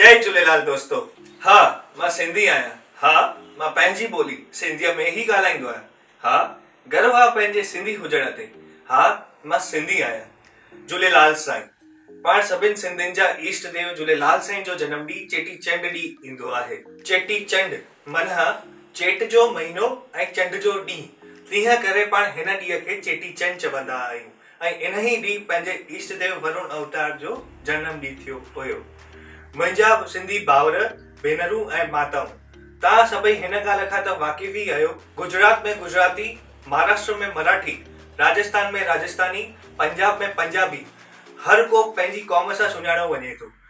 جئي جهوليلال دوستو ها مان سنڌي آهيان ها مان پنهنجي ٻولي سنڌيء ۾ ئي ڳالهائيندو آهيان ها گرو آ پنهنجي سنڌي هجڻ تي ها مان سنڌي آهيان جهوليلال سائين پاڻ سڀن سنڌين جا ايشٽ ديو جهوليلال سائين جو جنم ڏينهن چيٽي چنڊ ڏينهن ايندو آهي چيٽي چنڊ منه چيٽ جو مهينو ۽ چنڊ جو ڏينهن تنهن ڪري پاڻ هن ڏينهن کي چيٽي چنڊ چوندا آهيون ۽ انهيء ڏينهن پنهنجي ايشٽ ديو ورڻ اوتار جو جنم ڏينهن ٿيو هيو. منهنجا سنڌي ڀائر، ڀينرون ۽ ماتائون! توهان سڀئي هن ڳالهه کان ته واقف ئي آهيو، گجرات ۾ گجراتي، مهاراشٽر ۾ مراٺي، راجستان ۾ راجستاني، پنجاب ۾ پنجابي، هر ڪو پنهنجي قوم سان سڃاڻيو وڃي ٿو،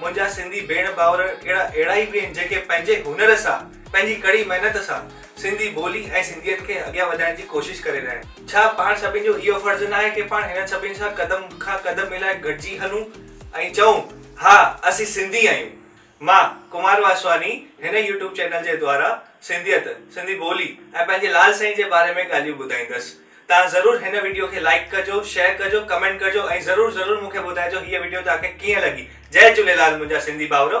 منهنجا سنڌي ڀيڻ ڀائر ڪهڙا اهڙا ئي به آهن جيڪي پنهنجي هنر سان پنهنجي ڪڙي محنت سان سنڌي ٻولي ۽ سنڌيت کي اڳيان وڌائڻ جي ڪوشش ڪري رهيا آهن ڇا پاڻ سڀني جو اهو فرض نه آهي ڪي پاڻ هنن سڀني سان قدم کان قدم ملائي گڏجي هلون ۽ چئون ها اسين سنڌي آهيون مان ڪمار واسواني هن يوٽيوب چينل جي دوارا سنڌيت سنڌي ٻولي ۽ پنهنجي لال سائين جي باري ۾ ڳالهيون ٻڌائيندس. تان ضرور هن وڊيو کي لائيڪ ڪجو شيئر ڪجو ڪمينٽ ڪجو ۽ ضرور ضرور مونکي ٻڌائجو هيء وڊيو تان کي ڪيئن لڳي جئي جهوليلال منهنجا سنڌي ڀائورو.